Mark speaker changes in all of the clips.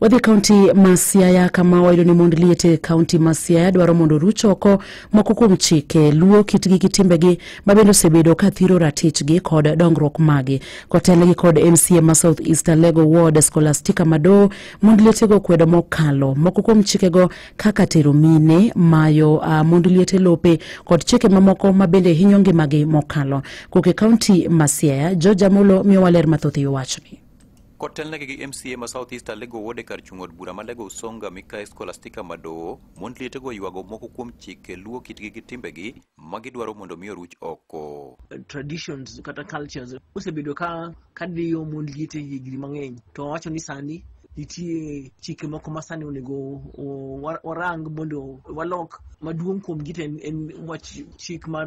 Speaker 1: wadhi kaunti ma siaya kama wayudo ni mond liet e kaunti ma siaya dwaro mondo oruch oko moko kuom chike luo kitgi gi timbegi ma bende osebedo ka thiro ratichgi kod dongruok magi kotelnegi kod mca ma south east alego ward scholastica mado mond lietego kwedo mokalo moko kuom chikego kaka tero mine mayo uh, mond liete lope kod chike mamoko ma bende hinyo ngimagi mokalo koke kaunti ma siaya george amolo miyowa ler mathoth e yo wachni Kotelnegi gi
Speaker 2: MCA ma South East Alego Ward e kar chung' od bura ma Lego Usonga Mikayi Scholastica Madowo, mond lietego oywago moko kuom chike luwo kitgi gi timbegi ma gidwaro mondo mi oruch oko. traditions
Speaker 3: kata cultures osebedo ka kadiyo mond liete higni mang'eny to wawacho ni sani nitie chike moko ma sani onego o- wa- warang mondo walok maduong' kuomgi to en, en wach chik mar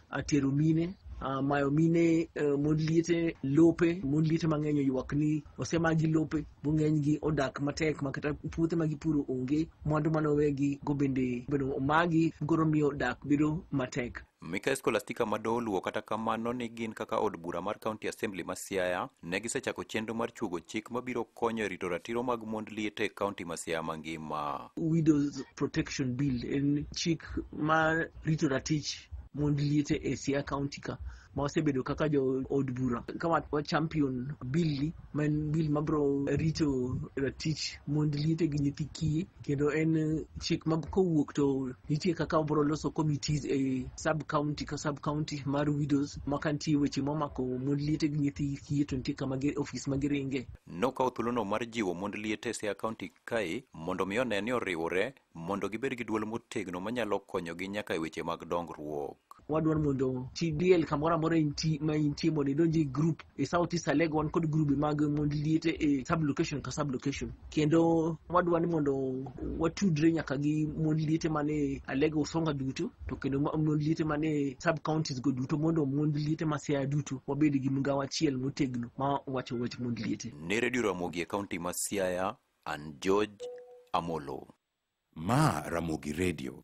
Speaker 3: atero mine Uh, mayo mine uh, mon liete lope mon liete mang'eny oywak ni osemagi lope bo ng'enygi odak matek ma kata puothe ma gipuro onge mwandu mane owegi go bende bedo omagi goro miyo dak bedo matek Mikael Skolastika
Speaker 2: ma doluwo kata kamano ni gin kaka od bura mar County Assembly ma Siaya ne gisechako chenro mar chuogo chik mabiro konyo e rito ratiro mag mond liet e kaunti ma Siaya mangima. Widows
Speaker 3: Protection Bill en chik ma rito ratich mond liete e Siaya County ka ma wasebedo kaka jo od bura ka wa- wa champion bill ni ma en bill mabro rito ratich mond liete gi nyithi kiye kendo en eh, chik ma kowuok to nitie kaka wabro loso committees e sub county ka sub county mar widows ma ka nitie weche momako mond liete gi nyithi kiye to nitie kama gi- ofis ma giringe Nokawo thuolono
Speaker 2: mar jiwo mond liete e Siaya County kae mondo mi one ni oriwore mondo gibed gi dwol motegno manyalo konyogi nyaka e weche mag dongruok. wadwaro mondo
Speaker 3: TDL kamoro amora inti- ma intie mondo idonj e group e South East Alego wan kod grube mag mond liete e sub location ka sub location kendo wadwa ni mondo watudre nyaka gi mond liete man e Alego Usonga duto to kendo ma- mond liete man e sub counties go duto mondo mond liete ma Siaya duto wabed gi migawo achiel motegno ma wacho wach mond liete. Ne redio Ramogi e
Speaker 2: kaunti ma Siaya, An
Speaker 4: George
Speaker 2: Amolo. Ma
Speaker 4: Ramogi
Speaker 2: Radio.